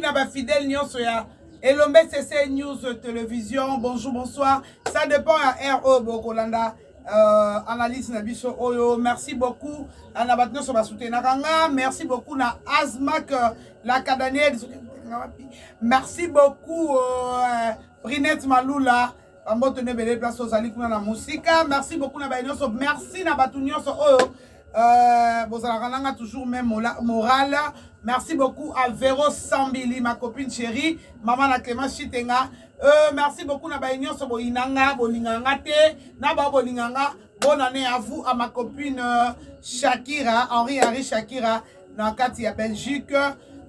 na ba fidèle nyonso ya elombe cc news television bonjour bonsoir ça dépend ya heure oyo bokolanda euh, analyse na biso oyo merci beaucoup euh, na bato nyonso basutenaka nga merci beaucoup na asmak euh, la cadaniel merci beaucoup euh, brinette malula bamboto na ebele place ozali kuna na mosika merci beaucoup na baye nyonso merci na bato nyonso oyo euh, bozalaka nanga toujours même morale merci beaucoup à vero sambili ma copine chérie mama na clément chitenga euh, merci beaucoup na baye nyonso boyina nga bolingaka nga te na bao bolingaka nga bonne année à vous à ma copine euh, shakira henri henri shakira na kati ya belgique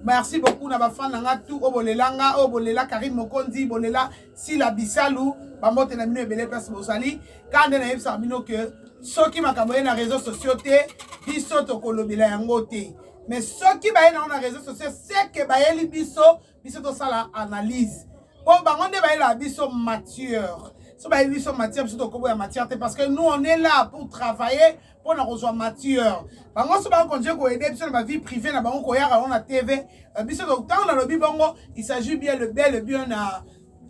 merci beaucoup na bafan na nga tout oyo bolela nga oyo bolela karine mokonzi bolela Sila Bisalu, bambote na bino ebele place bozali. Kaka nde nayebisaka bino ke soki makambo ye na réseaux sociaux te, biso tokolobela yango te. Mais soki baye nango na réseaux sociaux, seke bayeli biso, biso tosala analyse. Po bango nde bayelaka biso matière. So bayebi biso matière, biso tokoboya matière te parce que nous on est là pour travailler mpo na kozwa matière bango nyonso bakonje koyede biso na bavie privé na bango koyaka yango na tv euh, biso ntango nalobi bongo il s'agit bien le bel bien na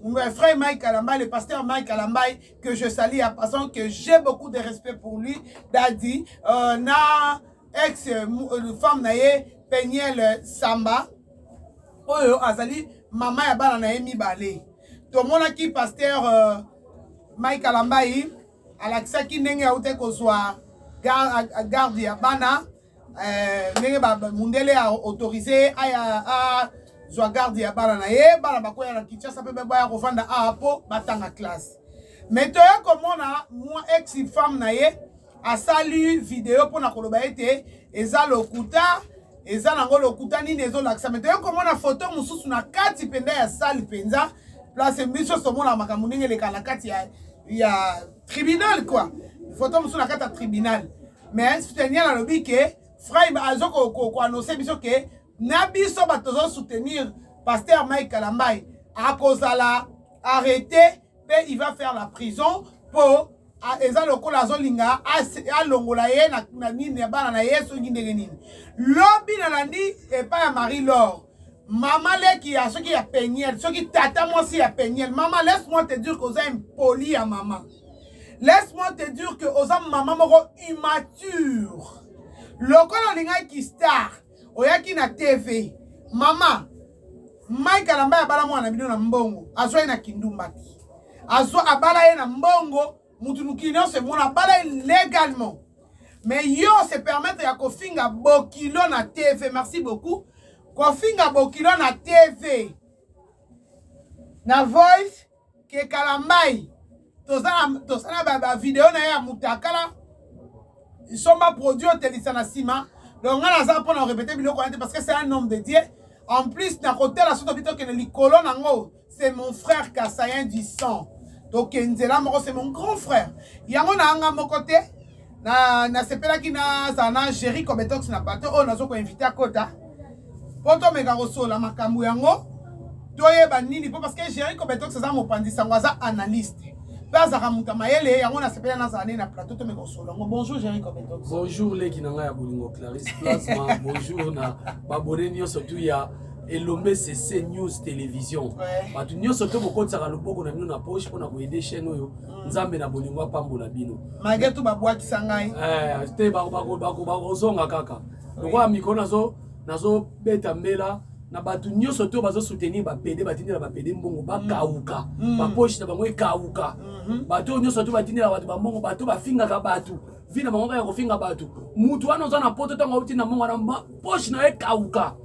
euh, frère Mike Kalambay, le pasteur Mike Kalambay, que je salue à passant, que j'ai beaucoup de respect pour lui, Daddy, euh, na ex euh, euh femme naye Peniel Samba, oyo azali mama ya bana naye mibale. Tomonaki pasteur euh, Mike Kalambay alakisaki ndenge aute kozwa garde ya bana eh, ndenge mundele ya autorise aya azwa garde ya bana na ye bana bakoya na kinshasa mpe baya kofanda awa mpo batanga classe me toya komona mwa ex femme na ye asali video mpo na koloba ete eza lokuta eza nango lokuta nini ezolakisa me toyei komona foto mosusu na kati mpenza ya sale mpenza place biso nyonso omona makambo ndenge eleka na kati ya, ya tribunal kua foto mosusu na kati ya tribunal mais soutenir alobi ke fraime azo koanonse ko, ko biso ke na biso bato tozosoutenir paster mike kalambai akozala arrete pe il va faire la prison po eza lokola azolinga alongola ye na nini ya bana na ye soki ndenge nini lobi nalandi epai ya marie lor mama leki ya soki ya peniel soki tata mwasi ya peniel mama laisse moi te dire que oza impoli ya mama laisse moi te dire que oza mama moko immature lokola olingaki star oyaki na tv mama mike alamba ya bala mwana na bino na mbongo azwa ye na kindumbaki azwa abala ye na mbongo mutu mokili nyonso emona abala ye légalement mais yo se permettre ya kofinga bokilo na tv merci beaucoup kofinga bokilo na tv na voice ke kalambayi toza na bavideo na ye ya mutakala nsomba produit otelisa na nsima donc ngai naza mpo na korepete biloko wana te parce que c'est un homme de dieu en plus nakotala so tobi tokende likolo nango c'est mon frère kasayen du sang tokenzela moko c'est mon grand frère yango na yanga moko te na nasepelaki nazala na géri cobetox na bato oyo nazo koinvite akota mpo tomeka kosola makambo yango toyeba nini mpo parce que géri cobetox aza mopanzi sango aza analyste mpe azalaka moto ya mayele yango nasepela nazala nde na plateau tomeka kosola yango bonjour géri cobetox bonjour leki na ngai ya bolingo clarisse plasma bonjour na babone nyonso tu ya elombe sese news télévision bato nyonso to bokotisaka loboko na bino na poche mpo na koyede chaîne oyo nzambe na bolingo apambola bino malgré tout babwakisa ngai eh, te bakozonga kaka lokola mikolo nazobeta mbela na bato nyonso to bazosoutenir bapede batindela bapede mbongo bakauka mm. mm. baposhi na bango ekauka mm-hmm. bato oyo nyonso to batindela bato bambongo bato bafingaka bato vi na bango kaka kofinga bato motu wana oza na poto ntango auti na mbongo wana poshi na yo ekauka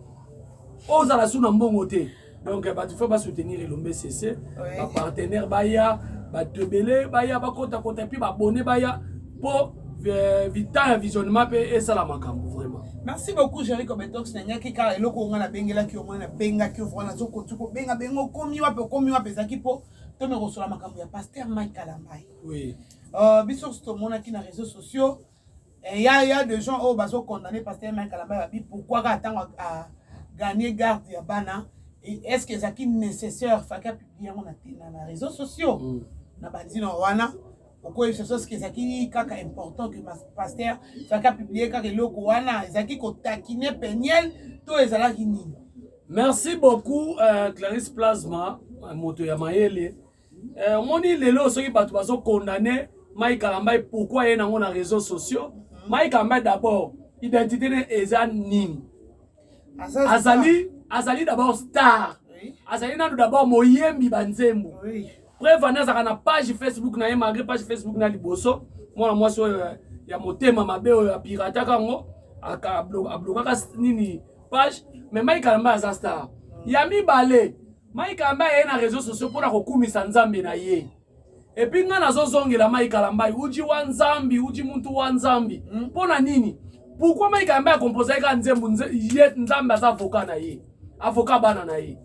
ozala su na mbongo te donc bato fo basoutenir elombe sese bapartenaire baya bato ebele baya bakotakota epuis babone baya mpo eh, vita ya visionnement mpe esala makambo vraiment merci beaucoup jerico betox nanyaki kaka eloko onga nabengelaki yo mwana nabengaki yo vraimen nazokoki kobenga benga okomi wapi okomi wapi ezalaki mpo tomekosola makambo ya paster mike kalambai oui. uh, biso tomonaki na réseau sociaux Eh, ya ya de gens oyo bazo condamner pasteur Mike Kalambay babi pourquoi ka tango a gagner garde ya bana est-ce que ezaki nécessaire faki a publier yango na na, na réseaux sociaux mm. na banzina wana okoyebisa biso soki ezalaki kaka important que pasteur faki a publier kaka eloko wana ezalaki kotakine peniel to ezalaki nini merci beaucoup euh, clarisse plasma moto ya mayele eh, omoni lelo soki bato bazo condamne mai kalambai pourkui aye nango na réseau sociaux mhm. mai kalambai d'abord identité ne eza nini azali azali d'abord star azali nano d'abord moyembi banzembo preuve ani azalaka na page facebook na ye malgré page facebook na liboso mwana mwasi oyo eh, ya motema mabe oyo apirataka yango ablokaka nini page mais mai kalambai aza star ya mibale Mike Kalambay aye na réseaux sociaux mpo na kokumisa nzambe na ye epuis ngai nazozongela Mike Kalambay uji wa nzambi uji muntu wa nzambi mpo hmm? na nini pourkui Mike Kalambay akompozaki kaka nzembo ye nzambe aza avoka na ye avoka bana na ye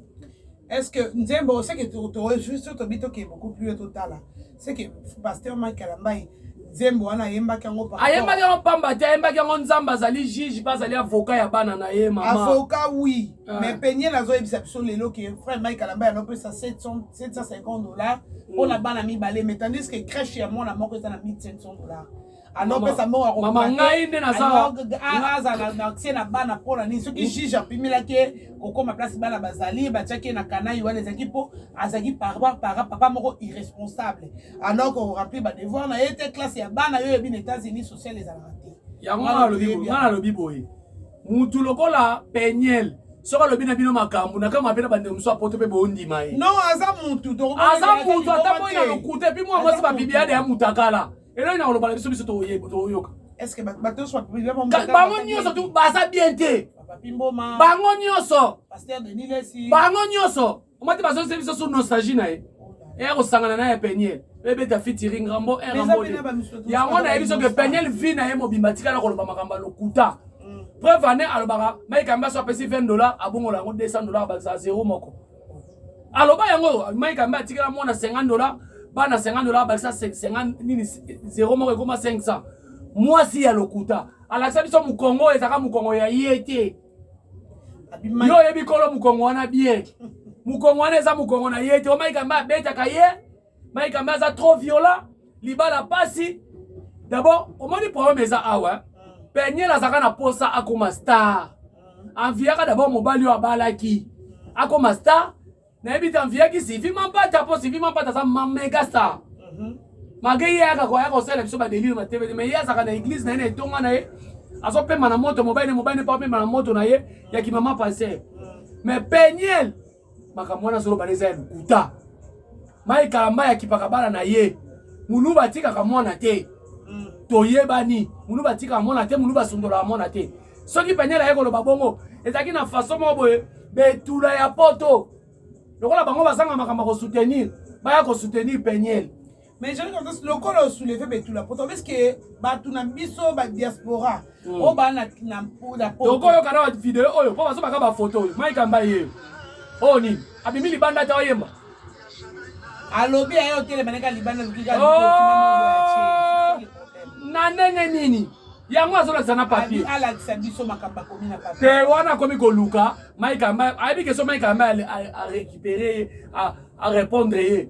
est ce que nzembo oseke toyesu tobi tokee beaucoup plus totala seke pasteur mike alambai nzembo wana ayembaki yango ayembaki yango pamba te ayembaki yango nzambe azali juge mpe azali avoka ya bana na ye mama avoka wi ah. mais penie nazoyebisa biso lelo ke frère mike alamba yanopesa 750 dollar mpo na mm. bana mibale mais tandis ke crèche ya mwana moko eza na 1500 dollar anopesa mbongo ya komama ngai nde nazazala na akse na bana mpo na nini soki juge apimelaki ye kokoma place bana bazali batiaki ye na kanai wana ezalaki mpo azalaki parbar para papa moko irresponsable alors koremplir badevoir na ye te classe ya bana yo yebi na états-unis social ezalaka te yango nga nalobi boye mutu lokola peniel soki alobi na bino makambo na kama mpe na bandeko mosusu apoto mpe bondima ye aza mutu ata moi na lokuta epi mwa mwasi babibiade ya mutakala eloi nakoloba na biso biso toyeba toyoka bango nyonso tu baza bien te bango nyonso bango nyonso omati bazongisa biso sur nostalgie na ye eya kosangana na ya peniel ebeta fitiri ngambo erambo yango nayebi soki peniel vi na ye mobimba tikala koloba makambo ya lokuta mm. preuve ane alobaka mike ambaso apesi 20 dollar abongola yango 200 dollar bakisa zero moko aloba yango mike ambe atikela mwana 50 dola bana 50 dola abakisa 50 nini 0 moko ekoma 500 mwasi ya lokuta alakisa biso mokongo oyo ezalaka mokongo ya ye te yo oyebi kolo mokongo wana bien mokongo wana eza mokongo na ye te omaika mba abetaka ye Mike Ambe aza trop violent, libala pasi. D'abord, omoni problème eza awa. Hein? Peniel azaka na posa akoma star. Anviaka d'abord mobali oyo abalaki. Akoma star. Nayebi te anviaki Sylvie Mampata mpo Sylvie Mampata aza mega star. Mhm. Mage ye ayaka koya kosala biso badelire na TV te mais ye azalaka na église na ye na etonga na ye azopema na moto mobali na mobali mpe apema na moto na ye ya kimama passer. Mhm. Mais Peniel makambo wana azoloba na eza ya lokuta mai kalamba ya kipaka bana na ye muluba atikaka mwana te mm. toyebani muluba atikaka mwana te muluba asundolaka mwana te soki penele aye koloba bongo ezalaki na faso moko boye betula ya poto lokola bango bazanga makambo ya kosoutenir baya kosoutenir peniele mais joli confiance lokola osouleve betula poto parceke bato na biso badiaspora hmm. oyo baa tokoyoka na video oyo mpo bazobaka bafoto oyo maikamba ye oyo nini abimi libanda te oyemba alobi aye otelema neka libanda oh! na ndenge nini yango azolakisa na papier alakisa biso makambo akomi na papier te wana akomi koluka maikamba ayebi keso maikamba arekipere arepondre ye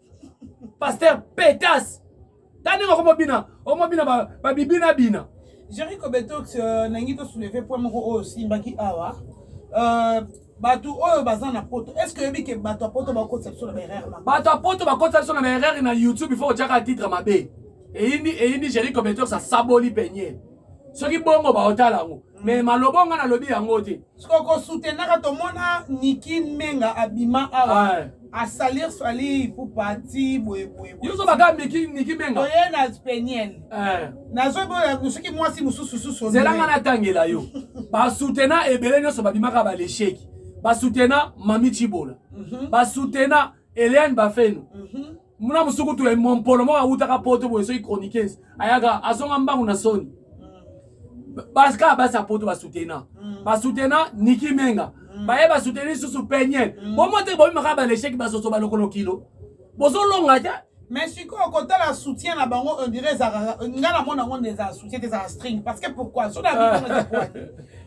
pasteur petas ta ndenge okomobina omobina babibina bina jerry kobetox euh, nangi tosouleve point moko oyo osimbaki awa euh, bato oyo baza na poto est ce que oyebi ke bato ya poto bakotisa biso na baerreur mabe bato ya poto bakotisa biso na baerreur na youtube ifo otyaka titre mabe eyindi eyindi jerry kobetox asaboli penye soki bongo baotala yango mais maloba nga nalobi yango te siko ko soutenaka tomona Niki Menga abima awa Ouais. a salir Fally Ipupa ti boye boye boye. Yozo baka Niki Niki Menga. Oye na peniel. Eh. Nazo boya soki mwasi mususu susu. Zela nga natangela yo. ba soutena ebele nyoso babimaka ba lecheki. Ba soutena Mami Chibola. Mm -hmm. Ba soutena Eliane Bafeno. Mm -hmm. muna musukutu ya mompolo moko awutaka poto boye soki chroniqueuse ayaka azonga mbangu na soni mm. basika basi ya poto basutena mm. basutena niki menga mm. baye basuteni lisusu peniel bomo te bomimaka balesheki basoso balokolo kilo bozolonga te mais sikoyo kotala soutien na bango ondire ezalaka ngai namona yango nde ezala soutien te ezala string parce que pourquoi so na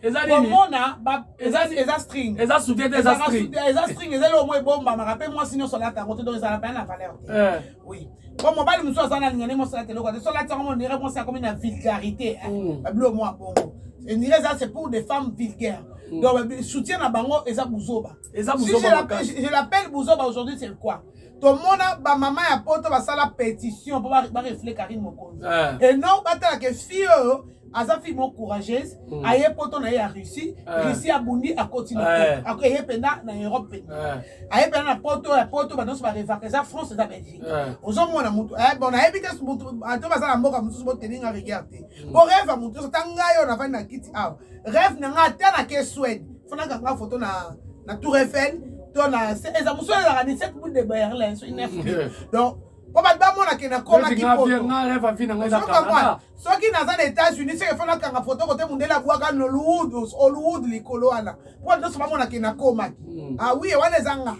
eza nini komona ba eza eza string eza soutien te eza string eza string eza le moins bomba maka pe moi sinon cela ta côté donc ça n'a pas la valeur eh. oui po mobali mosusu aza na linga ndenge mosalata eloko te solati yango monire mwasi akomi na vulgarité mm. babilo mwa bongo enire eza c'est pour des femmes vulgaires mm. donc soutien na bango eza buzoba je l'appelle buzoba aujourd'hui c'est quoi tomona bamama ya poto basala pétition mpo barefle karine mokonzi eh. et non batalaka fille oyo aza fille moko courageuse mm. aye poto na ye ya russie eh. russie abundi akoti eh. eye mpenza na europe mpenza eh. aye mpenza na poto ya poto banonso barevaka eza france eza belgique ozomona motu bon nayebi te ato baza na mboka mosusu boteninga regard te mm. po reve ya motu nyonso ta ngai oyo navandi na kiti awa reve na ngai ata na ke swede fanaka nga foto na na tour eiffel to na eza mosusu ezalaka 17 boule de berlin so inef donc mpo bato bamona ke nakomaki soki naza na états-unis seke fo nakanga foto kote mondele abwaka nolwood hollywood likolo wana mpo bato nyonso bamona ke nakomaki hmm. awie ah wana eza nga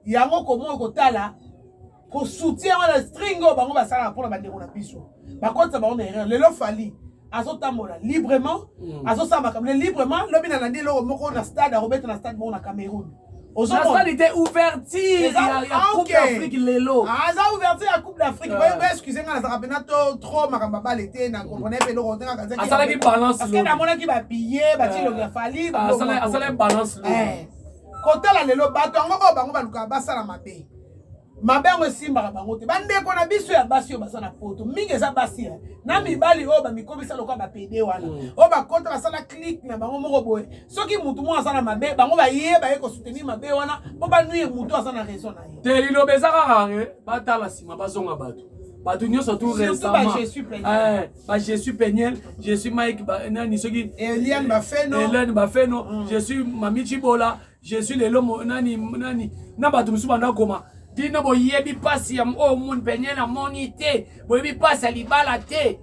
yango komoyo kotala kosoutien wana string oyo bango basalaka mpo na bandeko na biso bakotisa bango na erreur lelo fali azotambola librement mm. azosala makambo librement lobi nalandi eloko moko na stade akobeta na stade moko na cameroun ozomoni te ouverture ya ah, coupe d'afrique lelo aza ah, ouverture ya coupe d'afrique euh. boyeba excuse nga nazalaka mpena to trop makambo abala ete na comprene mpe eloko asalaki balance parce que namonaki babillet batilongi ya fali asalaki balance kotala lelo bato yango oyo bango balukaka basala mabe mabe yango esimbaka bango te bandeko na biso ya basi oyo baza na poto mingi eza basi ya na mibali oyo bamikomisa lokola bapede wana mm. oyo bakota basala clike na bango moko boye soki motu moko aza na mabe bango baye baye kosoutenir mabe wana mpo banuye motu aza na raison na ye te liloba eza kaka eh, batala nsima bazonga bato bato nyonso tu récemment ba jésus peniel jésus mike nani soki eliane bafeno je suis mami cibola jesus lelo mo, nani nani na bato mosusu banda koma bino boyebi mpasi ya oyo oh, moni penye na moni te boyebi mpasi ya libala te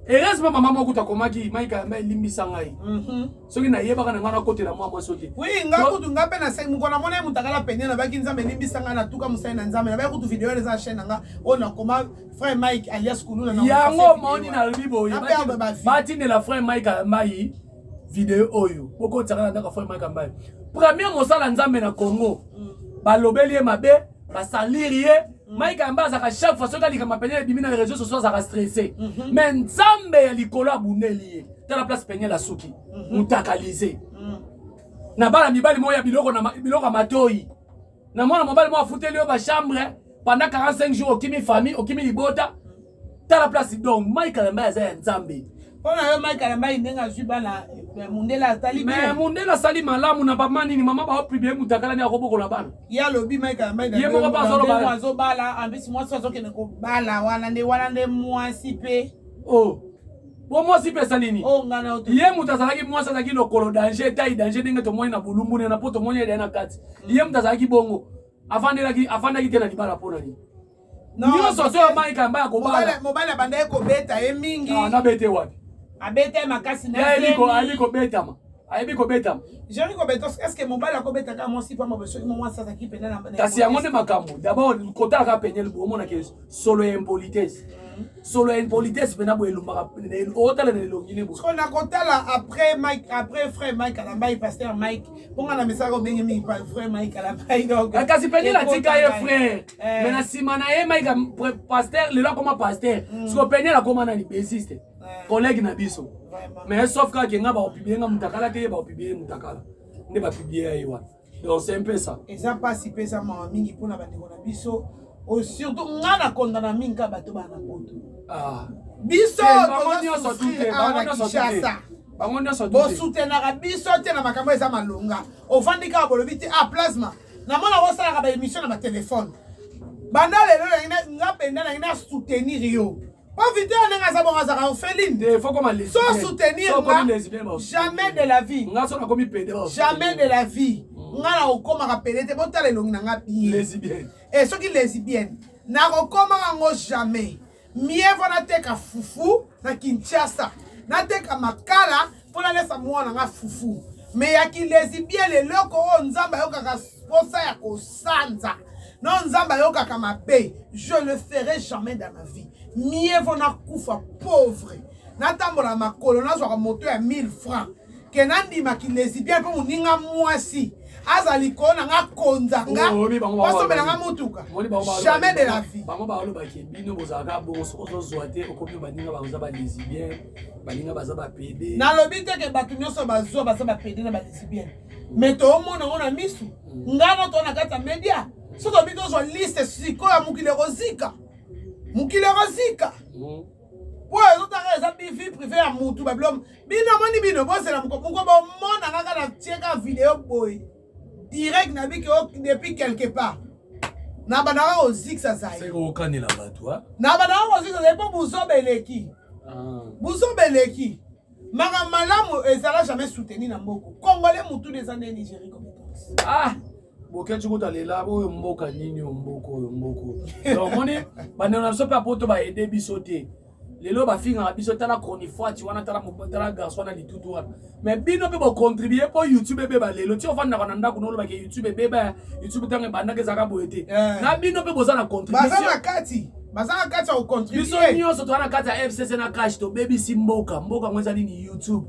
heureusement mama moko kutu akomaki maika yamba elimbisa ngai mhm. soki nayebaka na ngai nakotela mwa mwasi te wi ngai kutu ngai mpe naseki mokolo namona ye motakala pene nabaki nzambe elimbisa ngai natuka mosali na nzambe nabai kutu video eza na chaîne na ngai oyo nakoma frère mike alias kuluna yango omoni nalobi boye batindela frère mike yambai video oyo bokotisaka na ndako afai maika mbai premier mosala nzambe na congo mm. balobeli ye mabe basaliri ye mm. maika yamba azalaka chaque fois soki alikama peniel ebimi na réseau sociaux azalaka stressé mhm. mais nzambe ya likolo abundeli ye tala place peniel asuki mhm. mutakalise mm. na bana mibali moko ya biloko ya matoi na mwana mobali mwa afuteli yo ba chambre pendant 45 jours okimi famille okimi libota tala place donc Mike Kalemba aza ya Nzambe mpo na yo Mike Kalemba ndenge azwi bana eh, mundela asali mais mundela asali malamu na bama nini mama baopibie mutakala ni akobokola bana ye alobi Mike Kalemba ye moko mpe azolobaa azobala en plus mwasi azokende kobala wana nde wana nde mwasi mpe oh po mwasi pesa nini oh, ye moto azalaki mwasi azalaki lokolo danger etai danger ndenge tomoni na bolumbu nena po tomoni elia na kati mm. ye moto azalaki bongo afandelaki afandaki te na libala mpo na nini nyonso so yamai kamba ya kobala mobali abandaki kobeta ye mingi ah, nabete wapi abeta ye makasi nayebi kobetama ayebi kobetama jeri kobeta eske mobali akobetaka mwasi pamba soki mwasi azalaki mpena kasi yango nde makambo dabord kotalaka peniel bomonaki solo ya impolitesse solo ya impolitesse mpena boye elumbaka otala na elongi ne boye na kotala après mike après frère mike alambai pasteur mike mponga na misaka obenge mingi frère mike alambai donc eh, kasi peni natika ye frère eh. me na nsima na ye mike pasteur lelo akoma pasteur mm. siko peni alakoma nani bassiste eh. collègue na biso mais sauf kaka kenga baopibie nga mutakala te ye baopibie ye mutakala nde bapibie ya ye wana ose mpesa eza mpasi mpe eza mawa mingi mpo na bandeko na biso oyo surtout ngai na kondana mingi kaka bato bana poto ah. biso tozosufrir awa na kinshasa bango nyonso bosutenaka biso te na makambo eza malonga ofandi kaka bolobi te ah plasma namona osalaka baémission na batelefone banda lelo nga mpenza nangi na soutenir yo po vite ya ndenge aza bongo azaka orpheline so soutenir nga jamais de la vie jamais de la vie mm. nga na okomaka pede te botala elongi na nga bien e eh, soki lesibienne nakokomaka yango jamais mieux vo nateka fufu na kinshasa nateka makala mpo nalesa mwana nga fufu me ya kilezibiele eloko oyo nzambe ayokaka mposa ya kosanza no nzambe ayokaka mabe je le ferai jamais dans ma vie mieux vaut nakufa pauvre natambola makolo nazwaka moto ya 1000 francs ke nandima kilezibiele mpo moninga mwasi aza likolo na nga konza nga basombela nga motuka jamais de la vie bango balobaki bino bozalaka bongo soki ozozwa te okomi baninga bakoza balesibien baninga baza bapede nalobi te ke bato nyonso bazwa baza bapede na balesibienne me toomona yango na misu mm. ngai na to na kati ya media soki obi tozwa liste sikoyo ya mokili ekozika mokili ekozika mm. mpo ezotaka eza bivi prive ya motu babilo bino moni bino bozela moko moko bomona kaka na tieka video boye direct na biki o depuis quelque part na bandaka kozikisa zai seke okanela bato a na bandaka kozikisa zai mpo buzoba eleki ah. buzoba eleki makambo malamu ezala jamais soutenu na mboko congolais motuna eza nde nigerie compétence ah boketi kuta lela oyo mboka nini oyo mboka oyo mboka oyo omoni bandeko na biso mpe apoto baede biso te lelo bafingaka biso tala chronifuati wana tala tala garçon wana litutu wana mais bino mpe bocontribue mpo youtube ebeba lelo ti ofandaka na ndako nolobaka youtube ebeba youtube ntango ebandaka ezalaka boye te eh. na bino mpe boza na contribution na kati baza na kati ya kocontribue biso nyonso toza na kati ya fcc na cash tobebisi mboka mboka yango eza nini youtube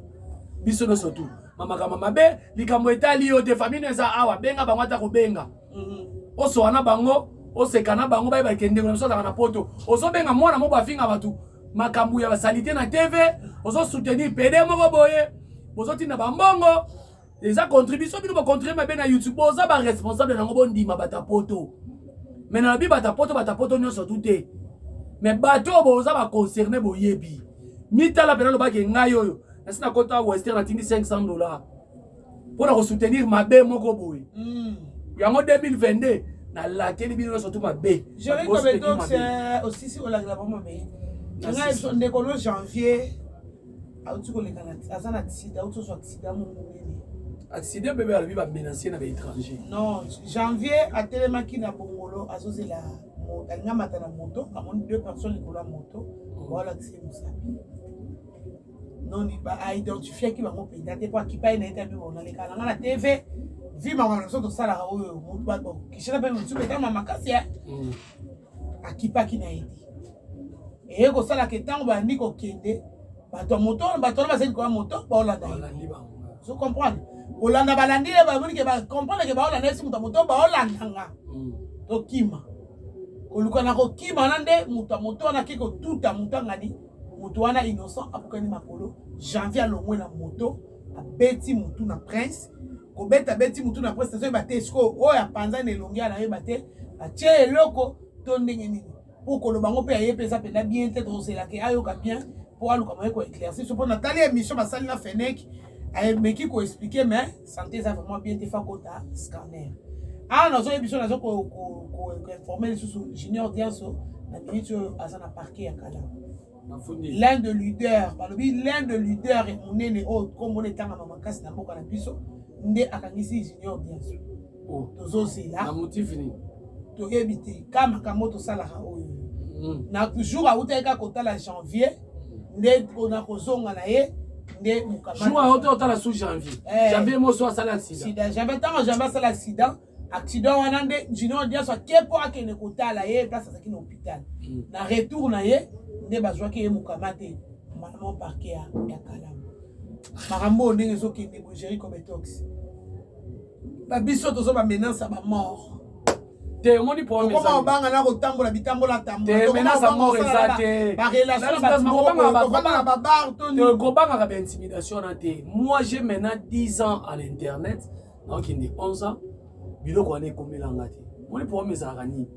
biso nyonso tu mamakamba mabe likambo etali yo te famille eza awa benga bango ata kobenga osowa na bango oseka na bango bayeba ete ndeko na biso azalaka na poto ozobenga mwana moko afinga bato makambo ya basalite na tv ozosoutenir pede moko boye bozotinda bambongo eza contribution bino bocontribue mabe na youtube boza baresponsable nango bondima bata poto me nalobi bata poto bata poto nyonso tu te me bato oyo boza baconcerne boyebi mitala mpena alobaki ngai oyo nasi nakota wester natindi 500 dollars mpo na kosoutenir mabe moko boye mm. yango 2022 nalakeli bino nyonso tu mabe euh, osisi kolakela bango mabe ngai ndeko no janvier auti koleka aza na accident auti ozwa accident moko monene accident bebe alobi bamenancier na baétranger non janvier atelemaki na bongolo azozela alingamata na moto amoni deux personnes likolo ya moto baolakisa ye mosapi noni ba a identifiaki bango mpenza te mpo akipai na ye te abiba onaleka na ngai na tv vi makambo na biso tosalaka oyo motu bato kishana mpe motu betama makasi ya mm. akipaki na ye te eye kosalaka ntango bayandi kokende bato ya moto bato wana bazali koya moto baolanda ye zo comprendre kolanda balandi ye bamoni ke bacomprendre ke baolanda esi moto ya moto baolanda nga mm. tokima koluka na kokima wana nde moto ya moto wana ake kotuta moto angani moto wana innocent abukani makolo janvier alongwe na moto abeti motu na prince kobeta beti motu na prince nazoyeba te sikoyo oyo apanza na elongi anayeba te batie eloko to ndenge nini mpo koloba yango mpe aye mpe eza mpenza bien te tozelaka ayoka bien mpo aluka moye koeclairci so mpo natali émission basali na feneki ameki koexplike mais Santé eza vraiment bien te fa kota scanner. Ah nazo yebiso nazo ko ko ko informer lisusu Junior Dianso na minute oyo aza na parquet ya kala. L'un de leader, balobi l'un de leader munene oyo kombo na etangama makasi na mboka na biso nde akangisi Junior Dianso. oh. tozozela na motif nini toyebi te ka makambo tosalaka oyo mm. na jour awutaki kaka kotala janvier mm. nde ona kozonga na ye nde mokamaaote otala sous janvier eh. janvier moso asala accident janvier ntango janvier asala accident accident wana nde junior diaso ake mpo akende kotala ye place azalaki na hôpital mm. na retour na ye nde bazwaki ye mokama te mama parke ya kalamu makambo oyo ndenge ezokende bogeri cometox ba biso tozo ba menace ya ba mort te omoni problèmekoma obanga na kotambola bitambola tambolamenace ya mort eza te kobangaka ba intimidation na te moi j'ai maintenant 10 ans à l'internet nakende 11 ans biloko wana ekomelanga te omoni problème ezalaka nini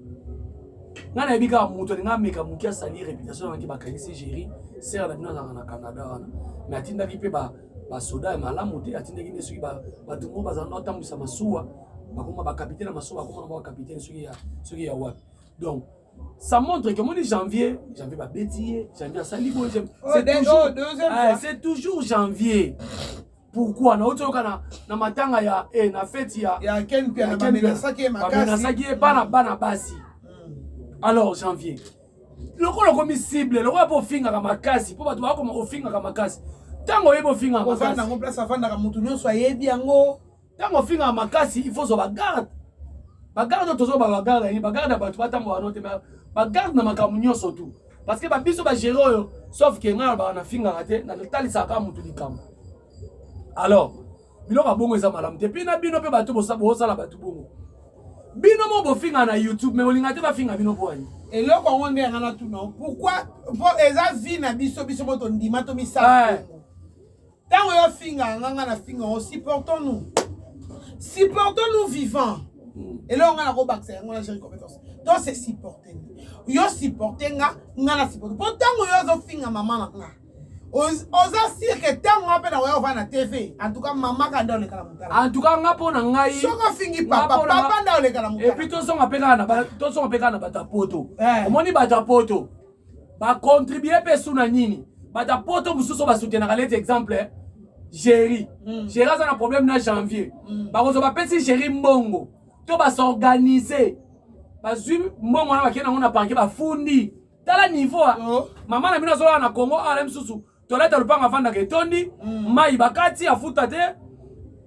ngai nayebi kaka moto alinga ameka moke asali réputation naki bakanisi géri sere na bino azalaka na canada wana mais atindaki mpe basoda ya malamu te atindaki nde soki bato moko bazala na otambwisa masuwa bakoma bakapitene ya masuwa bakoma na bakapitene soki ya wapi donc ça montre que moni janvier janvier babeti ye janvier asali boye oh, ah, c'est toujours janvier pourquoi nauti oyoka na, na matanga ya eh, na feti ya bamenasaki ye bana bana basi hmm. alors janvier lokola okomi cible lokola mpo ofingaka makasi mpo bato bakoma ofingaka makasi ntango oyebi ofingaka makasi yango place afandaka moto nyonso ayebi yango ntango ofingaka makasi il faut ozwa bagarde bagarde oyo tozwa bagarde nini bagarde ya bato batambola no te ma bagarde na makambo nyonso tu parce que babiso bagere oyo sauf ke ngai alobaka nafingaka te natalisaka kaka moto likambo alors biloko ya bongo eza malamu te mpe na bino mpe bato bosala bato bongo bino mo bofinga na youtube me bolinga te bafinga bino mpo ani eloko yango nde yanga natuna pourkui mpo eza vi na biso biso mpo tondima tomisala eh. ntango yo finga yanga nga na finga yango supportons nous supportons nous vivant hmm. eloko nga nakobakisa yango na géri compétence to se supporte yo supporte nga nga na supporte mpo ntango yo ozofinga mama na nga oza sire ke ntango nga mpe na oya ovanda na tv antuka mama ka nde oleka na motala antuka nga mpo na ngai soki ofingi papa papa nde oleka na motala epuis tozonga mpe kaka na bato ya poto eh. omoni bato ya poto bacontribue mpe su na nini bato ya poto mosusu oyo basutenaka leti exemple eh. géri mm. géri aza na problème na janvier mm. bakozwa bapesi géri mbongo to basorganize bazwi mbongo wana bakei nango na parke bafundi tala niveau ah. oh. mama na bino azolala na congo awa na misusu toleta lopango afandaka etondi mm. mai bakati afuta te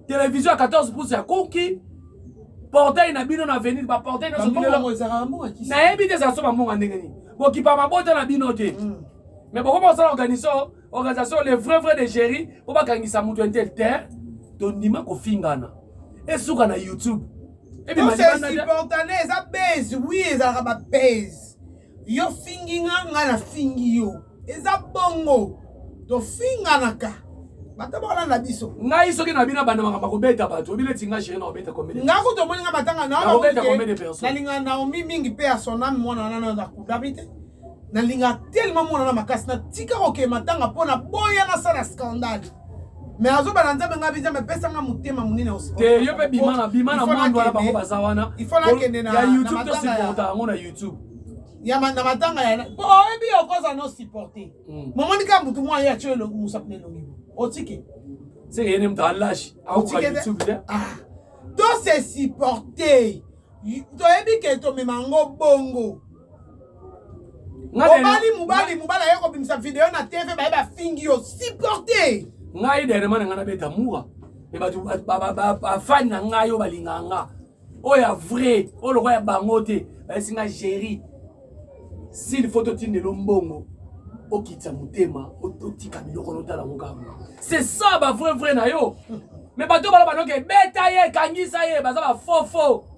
televizio ya 14 pouce ya kuki portail na bino na avenir baportail nayebi te ezala so bambonga ndenge nini bokipa mabota na bino te mm. mais bokoma kosala organisation organisation le vrai vrai de géri mpo bakangisa moto intel te tondima kofingana esuka na youtube tosesupportane eza base wi ezalaka ba base yo fingi nga nga na fingi yo eza bongo tofinganaka bato bakolanda biso ngai soki na bino abanda makambo akobeta bato obi neti ngai sheri nakobeta komede nga kutu omoni nga matanga naobeta komede perso nalingana naomi mingi mpe ya sonami mwana nano na kudabi te nalinga tellement mwana na makasi natika kokee matanga mpo na boya nasala scandale me azoba na nzambe ngai nzambe apesa ngai motema monene te yo mpe bima na bima na mwandu wana bango baza wana ya youtube tosupporta yango na youtube ya na matanga ya mpo oyebi yo okoza no supporte hmm. momoni kaka motu mwa ye atyo elongi mosapi na elongi otike seke yene moto alashi akoka youtube te ah. to se supporte toyebi ke tomema yango bongo obali mobali mobali aye kobimisa video na tv baye bafingi yo supporte ngai dernièrement na ngai nabeta mura me bato bafani na ngai oyo balingaka nga oyo ya vrai oyo lokola ya bango te bayesi ngai géri sili fo totindelo mbongo okitisa motema otika biloko notala yango kaka c'est ça ba vrai vrai na yo me bato bala banoke beta ye kangisa ye baza bafofo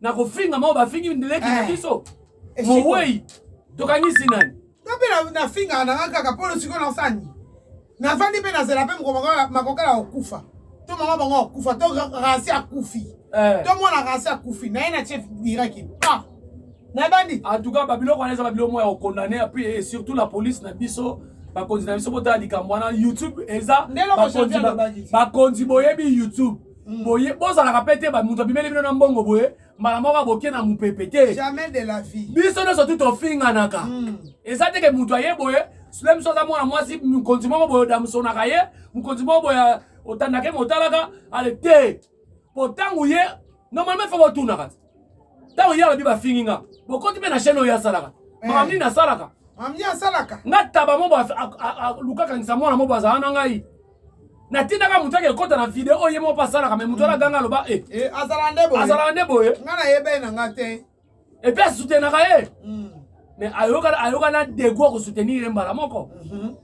na kofinga mao bafingi leki na eh, biso mowei tokangisi nani nga mpe nafingaka nanga kaka mpo losiko nasani nafandi mpe nazela mpe makokala okufa to mama bango akufa to rasi akufi eh. to mwana rasi akufi naye na chef diraki pa nabandi antuka babiloko wana eza babiloko moya kokondane apui surtout la police na biso bakonzi na biso botala likambo wana youtube eza bakonzi boyebi youtube boye bozalaka mpe te bamoto abimeli bino na mbongo boye mbala moko aboke na mopepe te jamais de la vie biso nyonso tu tofinganaka mm. eza te ke moto aye boye sule biso aza mwana mwasi mokonzi moko boye odamsonaka ye mokonzi moko boye otandaka ye motalaka ale te mpo ntango ye normalement fo botunaka te ntango ye alobi bafingi nga bokoti mpe na chaine oyo asalaka eh. makambo nini asalaka mamie asalaka nga taba mobo lukakangisa mwana mobo azala na ngai natindaka moto ake ekota na video oyo ye moko mpe asalaka mai moto wana ganga aloba e azalaka nde boye nga nayebei na nga te epe asutenaka ye mm. mais ayoka ayoka na degout ko soutenir mbala moko mm -hmm.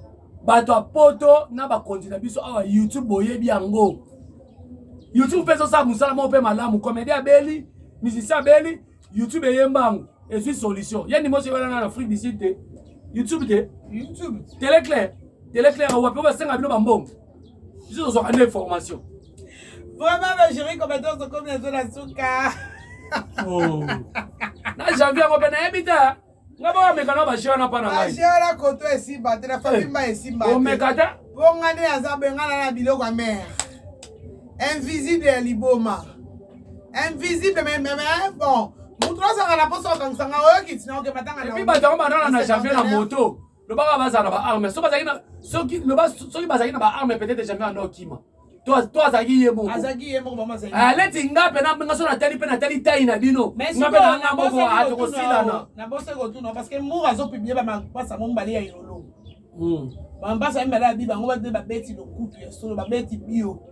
bato ya poto na bakonzi na biso awa youtube boyebi yango youtube mpe ezosala mosala moko mpe malamu comédie abeli musicien abeli youtube eyemba yango ezwi solution ye ndimo oso ebalana na afrique du sud te youtube te youtube teleclaire teleclaire wapi oyo basenga bino bambongo biso tozwaka nde information vraiment bajuri komete ozokomi nazo na suka oh. na janvier yango mpe nayebi te nga bameka na bajeu wana mpa na ngaibajeuwana koto esimba te na fabimba eh, esimba omeka te mpo nga nde aza bengana na biloko ya mare invisible ya liboma invisible meme eh, bon moto azanga na mposo akangisa nga oyoki tina oke batanga na bato yango banana na janvier na moto loba kaka bazala na baarme soki bazalaki na soki loba soki bazalaki na baarme peut-être jamais anda okima to azalaki ye mokoaleti eh, nga mpe nga so natali mpe natali tai na bino nga mpe nanga moko atokosilana nabose kotuna parce que mura azopiblie bamapasa yango mibale ya elolo hmm. bamapasa ya mibale ya bibango bade babeti lokutu ya solo babeti bio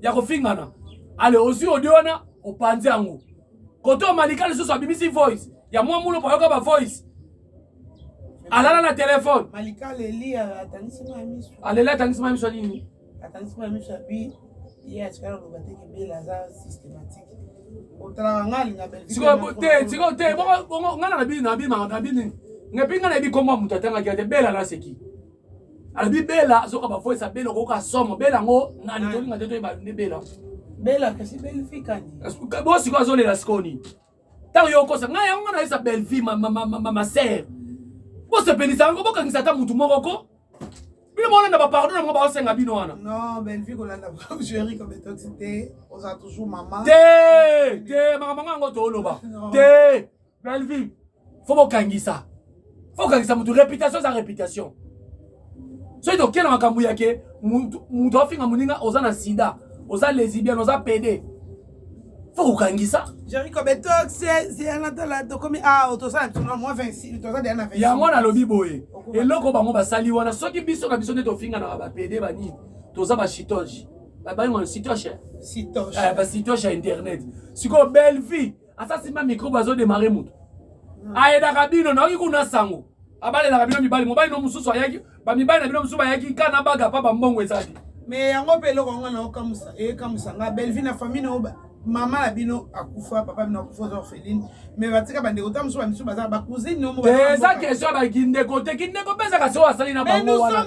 ya kofingana ale ozwi audio wana opanzi yango kote omalika lisusu abimisi voice ya mwa mulo payoka ba voice alala na telefone alela atangisima miso nini atangisima miso ya bi ye atikala loba te kebela aza systématique sikoyo te sikoyo te bongo ngai na bini na bini na bini ngai mpe ngai na yebi nkombo ya moto atangaki ya te bela naseki alobi bela azoka bavoice ya bela okoyoka somo bela yango nani ah. tolinga te toyeba nde bela bela kasi belvi kani bo sikoyo azolela sikoyo nini ntango yo okosa ngai yango nga nayesa belvi masere bosepelisa yango bokangisa ata motu moko ko bino bolanda bapardon yango baosenga bino wana te te makambo yango toloba te Bellevue, faut bokangisa. Faut bokangisa mutu réputation sa réputation. soki tokela makambo ya ke moto afinga moninga oza na sida oza lesibian oza pede fo kokangisa yango nalobi boye eloko bango basali wana soki biso na biso nde tofinganaka bapede banini toza bachitoge babango sitoche basitoche ya internet sikoyo belle vie asa simba micro bazo démarrer mutu hmm. ayedaka bino naoki kuna sango abalelaka bino mibali mobali no mosusu ayaki bamibali na bino mosusu bayaki ka na baga pa bambongo ezali me yango mpe eloko yango na okamusa ekamusa nga belvi na famille na oba mama na bino akufa papa bino akufa oza orpheline me batika bandeko ta mosusu bamisu baza bacousine nomo eza question ya bakindeko te kindeko mpe ezaka se oyo asali na bango wana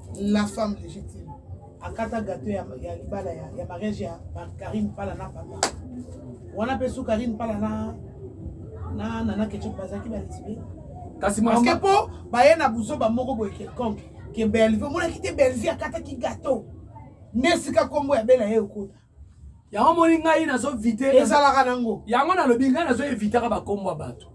la femme légitime akata gato ya, ya libala ya, ya mariage ya Karine Pala na papa wana mpe su Karine Pala na na nana ketchup bazalaki balesbi kasi parce que mpo baye na buzoba moko boye quelconque ke Bellevue omonaki te Bellevue akataki gato nde esika nkombo ya bela ye ekota yango moni ngai nazo vite ezalaka nango yango nalobi ngai nazo evitaka bakombo ya bato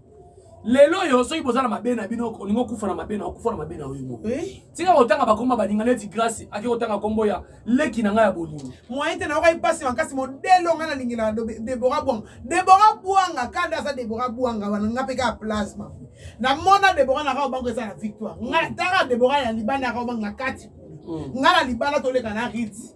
lelo oyo soki boza na mabe na bino olingi okufa na mabe na okufa na mabe na oyo moko eh? tika kotanga bakombo ya baninga neti grasi ake kotanga kombo ya leki na ngai ya bolingo moyen te nayokai mpasi makasi modele ongai nalingelaka debora bwanga debora bwanga kanda aza debora bwanga wana ngai mpe kaka plasma namona debora na kao bango eza na victoire ngai tanga debora ya libanda ya kao bango na kati mm. ngai na libanda toleka na rite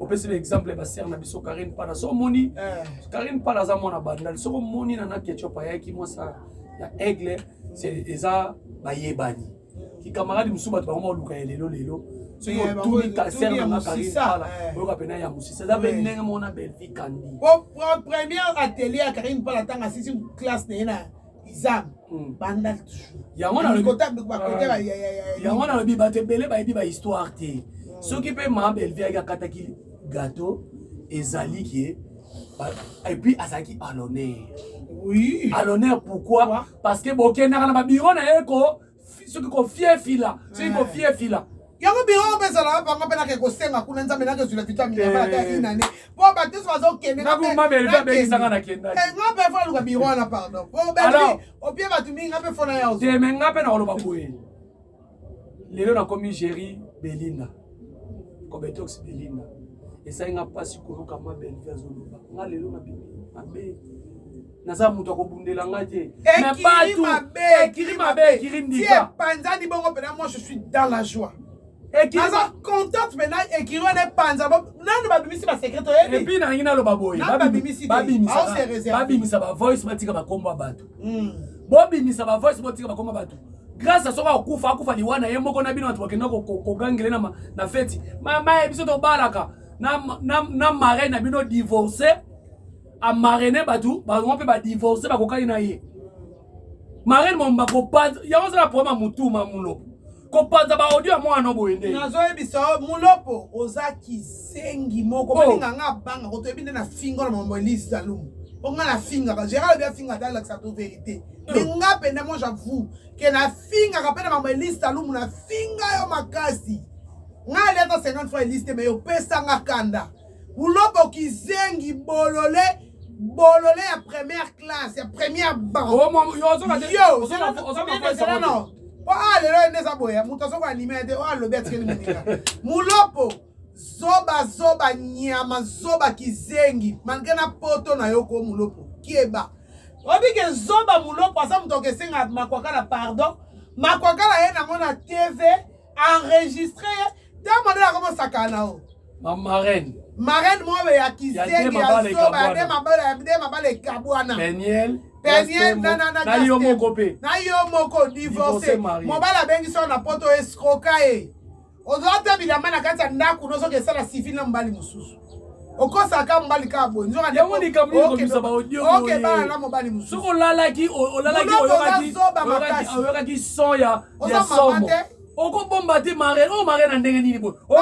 opesi ba exemple ya basere na biso karine mpana so omoni eh. karine mpana aza mwana bandal soki omoni na na ketchup ayaki mwasa ya aigle eza bayebani kikamaradi mosusu bato bango baluka ya lelo lelo soki eh, otuni kaser nanga karine mpana eh. oyoka mpena ya mosisa eza mpe ndenge mona belvi kandi première atelier ya karine mpana ntango asisi classe na ye na izango hmm. banda yango nalobi bato ebele bayebi bahistoire te hmm. soki mpe ma belvi ayaki akataki gato ezali ke epuis azalaki alonere oui. alonere pourquoi parce que bokendaka na babiro na ye ko soki kofiefila soki eh. kofiefila yango biro oyo ezalaka bango mpe nake kosenga kuna nzambe nake ozwila vitamine eh. ata inane mpo bato nyonso bazokendengababekisanga nakendanga eh, mpe fo aluka biro wana pardon opie bato mingi nga mpe fona yao te me nga mpe nakoloba boye lelo nakomi géri belinda kobetox belinda esali nga mpasi koyoka ma belvi azoloba nga lelo nabimi mabe naza moto akobundela nga te ekiri mabe ekiri ndikaepanzani bongo mpena moi je suis dans la joie naza contente mpena ekiri wana epanza nanu babimisi basekrete oyebiepui nalingi naloba boye babimisa bavoice batika bakombo ya bato hmm. bobimisa bavoice botika bakombo ya bato grâce soki akufa akufa liwa na ye moko na bino bato bakenda kogangele na feti mamaye biso tobalaka na marai na bino divorce a marraine batu bango mpe ba divorce bakokani na ye marraine mom bakopanza yango ozala problème ya mutu ma mulopo kopanza baaudio ya mwana no boye nde nazoyebisa yo mulopo oza kisengi moko balinga oh. nga abanga kotoyebi nde na fingo na mambo elise zalumu po nga na finga ba gérard obi afinga ata alakisa to vérité oh. mais nga mpenza moi j'avoue ke nafingaka mpe na mambo elise zalumu nafinga yo makasi nga ali ata 50 fois elise te mais opesa nga kanda Bulobo kizengi bolole bolole ya première classe ya première banque. Oh, mon- yo, ozoka te- Yo, ozoka- zela- ozoka zela- koyesa zela- moto. non. Po awa lelo ende eza boye moto azoko anime ye te oyo alobi atikeli moninga mulopo zoba zoba nyama zoba kizengi malgre na poto na yo ko mulopo keba oyebi ke zoba mulopo aza moto okesenga makwakala pardon makwakala ye nango na tv enregistre ye ntango nde nakobosaka na o ma marraine marraine moko boye ya kizengi ya zoba ya nde mabala nde mabala ekabwana peniel peniel na yo moko mpe na yo moko divorce mobali abengi soko na poto escroka ye ozwa te bilamba na kati ya ndako nozoka esala civile na mobali mosusu okosaka mobali kaka boye nzoyango likambo likomisa baodiookebala na mobali mosusu soki olalaki olalaki oyokaki son ya somo okobomba te mare oyo oh, mare na ndenge nini boye oh,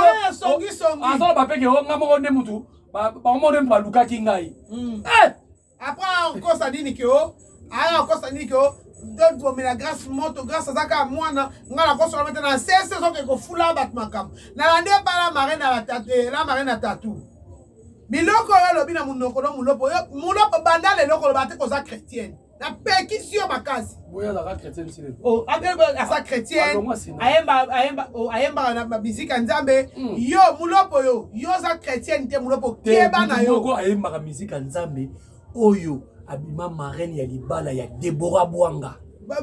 oh, azala bapeke o nga moko nde motu bango moko nde motu balukaki ngai hmm. eh! Après akosa nini ke o aya akosa nini ke o tobomela grâce moto grâce aza kaka mwana ngai nakosola mete na sese ezoke kofula bato makambo nalandi epa la mare na eh, la mare na tatu biloko oyo olobi na monoko no molopo molopo banda lelo koloba te koza chrétienne napekisi yo makasi Oh, aza chrétienne oh, ayembaka na miziki ya nzambe hmm. yo mulopo yo yo oza chrétienne te mulopo keba na yo ayembaka miziki ya nzambe oyo abima marraine ya libala ya debora bwanga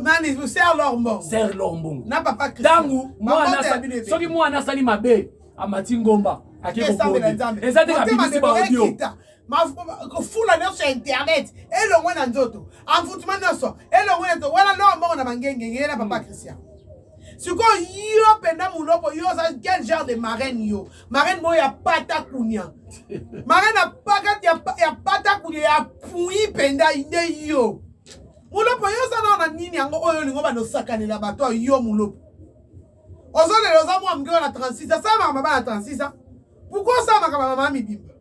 nani ser lorbong ser lorbong na papa ntango soki mwana asali mabe amati ngomba akekokode eza te kabimisi baodio fula nyonso ya internet elongwe na nzoto envoutema nyonso elongwe na nzoto wana loa mbongo na mangenge ye na papa christian sikoyo yo mpenza muloko yo oza quel genre de marraine yo marraine moko ya pata kunia marraine apakati ya pata kunia ya pui mpenza nde yo mulopo yo oza nao na nini yango oyo olingo banda osakanela bato oyo yo mulopo ozolela oza mwa moke wana 36 asalamaka mabala 36 pourquoi osala makambo ya mama mibimba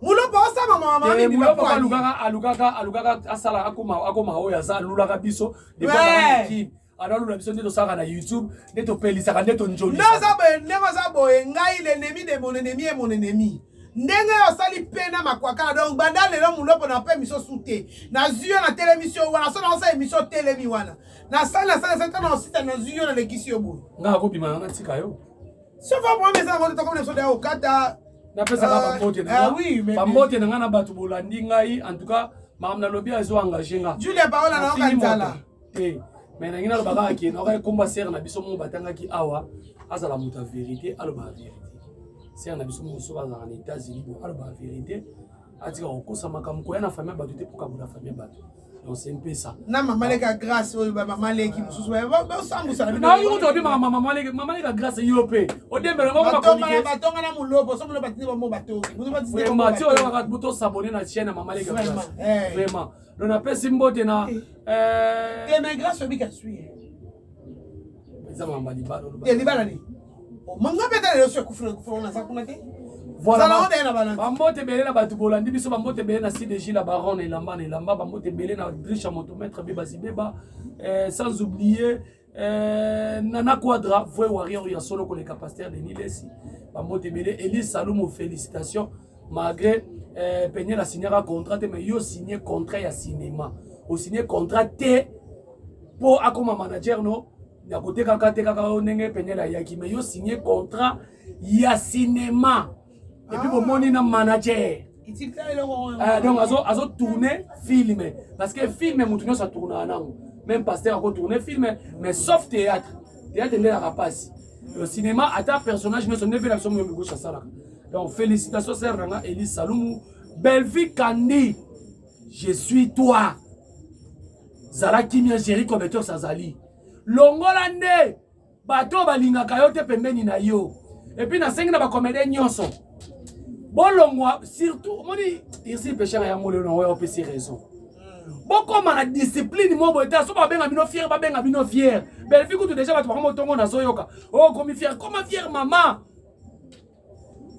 mulopa osala mama mama eh, mibimba mulopa alukaka alukaka alukaka asala akoma akoma oyo aza alulaka biso depuis analula biso nde tosalaka na youtube nde topelisaka nde tonjolisa ndenge oza boye ngai lenemi de mon ennemi e mon ennemi ndenge osali mpe na makwakala donc banda lelo mulopo na mpe emisio su te nazwi yo na tele emisio wana so naosala emisio telemi wana nasali nasali nasali ntango osita nazwi yo nalekisi yo boye ngai akobima na natika yo Sofa mwa mesa yango toko na soda okata. Na pesa ka ah, papote na. Ah oui, mais papote na nga na batu bolandi ngai en tout cas makambo nalobi azo engage nga. Julia Paola na oka nzala. Te. Mais na ngina loba kaka ke na oka ekomba sere na biso moko batangaki awa azala moto ya verite aloba ya verite. Sere na biso moko soki azalaka na Etats-Unis bo aloba ya verite atika kokosa makambo koya na famille ya bato te mpo kabola famille ya bato. na mama leka grace oyo bamama leki mosusu basambusana mama leka grace yo mpe odembelabatonga na molobo so molobo batindi bamo batongi oyokaka tosabone na chaine ya mama leka grace vraiment donc napesi mbote na te mais grace obika sui eza mama libala ya libala nini oh, manga mpe ata lelo so ekufuna ekufuna wana aza kuna te bambote ebele na bato bolandi biso bambote ebele na cdg la baron na elamba na elamba bambote ebele na drisha motometre beba zibeba eh, sans oublier eh, nana quadra vrai warrior ya solo koleka paster denis lesi bambote ebele elie salumo félicitation malgré euh, peniel asignaka contrat te mais yo signe contrat ya cinéma osigne contrat te mpo akoma manager no ya kotekaka tekaka yo ndenge peniel ayaki mais yo signe contrat ya cinéma epuis ah. bomoni na manager euh, donc azo tourne film parce que film motu nyonso atournaka nango même pasteur ako tourne film mais sauf théâtre théâtre nde elaka mpasi le cinéma ata personnage nyonso nde mpe na biso moyo mikoso asalaka Donc félicitations sœur Nanga Eli Salumu. Bellevue Kandi, je suis toi. Zala kimia Jerry Cometos Sazali. Longola nde bato balingaka yo te pembeni na yo. Et puis nasengi na ba comédien nyonso. Bolongwa surtout moni ici pêcheur ya ngolo na oyo opesi raison. bokoma na discipline moko boye te so babenga bino fiere babenga bino fiere belvi kutu deja bato bango motongo nazoyoka okomi oh, fiere koma fiere mama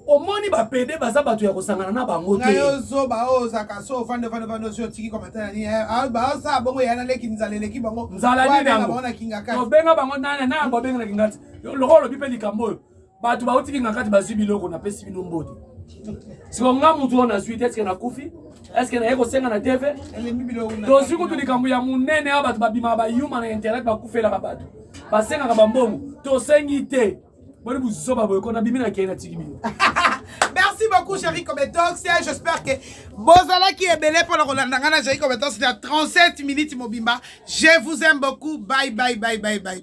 omoni bapede baza bato ya kosangana na bango te yo zoba oyo ozaka so ofande ofande ofande osi otiki komatana nini eh, ah, baosala bongo ya naleki nzala eleki bango nzala nini yango na kingakati obenga bango nani na yango obenga na kingakati lokola olobi mpe likambo oyo bato bauti kingakati bazwi biloko napesi bino mbote siko nga motu oyo nazwi te eske nakufi eske naye kosenga na tv tozwi kutu likambo ya monene ya bato babimaka bayuma na internet bakufelaka bato basengaka bambongo tosengi te boni buzoba boye kona bimi na kei na tiki bino merci beaucoup chéri cometox j'espère que bozalaki ebele mpona kolanda ngai na chéri cometox na 37 minutes mobimba je vous aime beaucoup bye bye bye bye bye